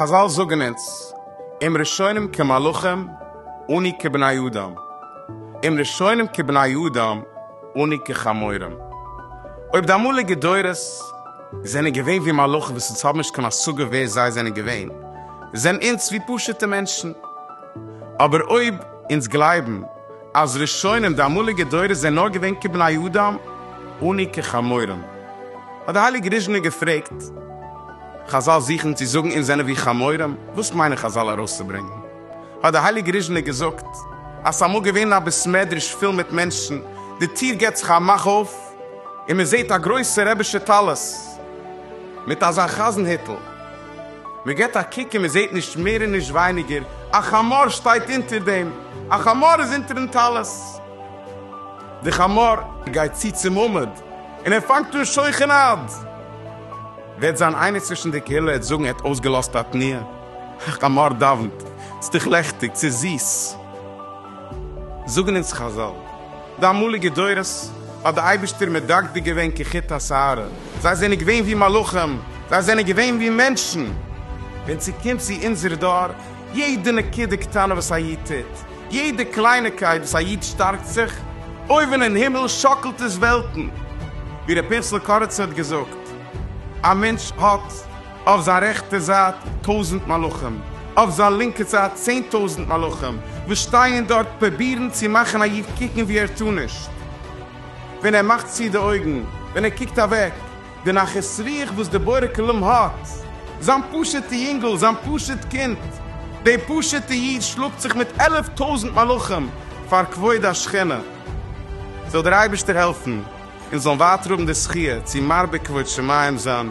חזל זאגען אונז, אם ראשונים כמלאכים אני כבני אדם, אם ראשונים כבני אדם אני כחמורים. אויב די אמאליגע דורות זענען געווען ווי מלאכים וואס אונז האבן נישט קיין השגה ווער זיי זענען געווען, זענען אונז ווי פשוטע מענטשן. אבער אויב אונז גלייבן אז ראשונים די אמאליגע דורות זענען נאר געווען כבני אדם אני כחמורים, האט די הייליגע ריזשינער געפרעגט, חזל זוכן צו זאגן אונז זענען ווי חמורים, וואס מיינען חזל ארויסצוברענגן? האט די הייליגע ריזשינער געזאגט אז ס'אמאל געווען א בית מדרש פיל מיט מענטשן, די טיר געבט זיך א מאך אויף און מ'זעט א גרויסע רבי'שע טלית מיט אזא חזן היטל, מען געט א קוק און מען זעט נישט מער און נישט ווייניגער, א חמור שטייט אונטער דעם, א חמור איז אונטערן טלית. דער חמור גייט צו צום עמוד און ער פאנגט אן שוכן עד. וועט זיין איינער צווישן די קהילה עד זאגן ער האט אויסגעלאזט א תנועה, א חמור דאוונט, ס'איז דאך לעכטיג, ס'איז זיס. זאגן אונז חזל, די אמאליגע דורות האט די אייבישטער מדקדק געווען כחוט השערה, זיי זענען געווען ווי מלאכים, זיי זענען געווען ווי מענטשן, ווען ס'קומט צו אונזער דור, יעדע נקודה קטנה וואס א איד טוט, יעדע קלייניקייט וואס א איד שטארקט זיך, אויבן אין הימל שאקלט עס וועלטן, ווי ר' פנחס'ל קאריצער האט געזאגט, א מענטש האט. אויף זיין רעכטע זייט טויזנט מלאכים, אויף זיין לינקע זייט צען טויזנט מלאכים, וואס שטייען דארט פרובירן צו מאכן א איד קוקן ווי ער טאר נישט, ווען ער מאכט צו די אויגן, ווען ער קוקט אוועק. די נחת רוח וואס דער בורא כלים האט, זיין פשוטע יונגל, זיין פשוט קינד, דער פשוטע איד שלאגט זיך מיט עלף טויזנט מלאכים פאר כבוד השכינה. זאל דער אייבערשטער העלפן אונז זאלן ווייטער האבן די זכיה צו מרבה כבוד שמים זיין.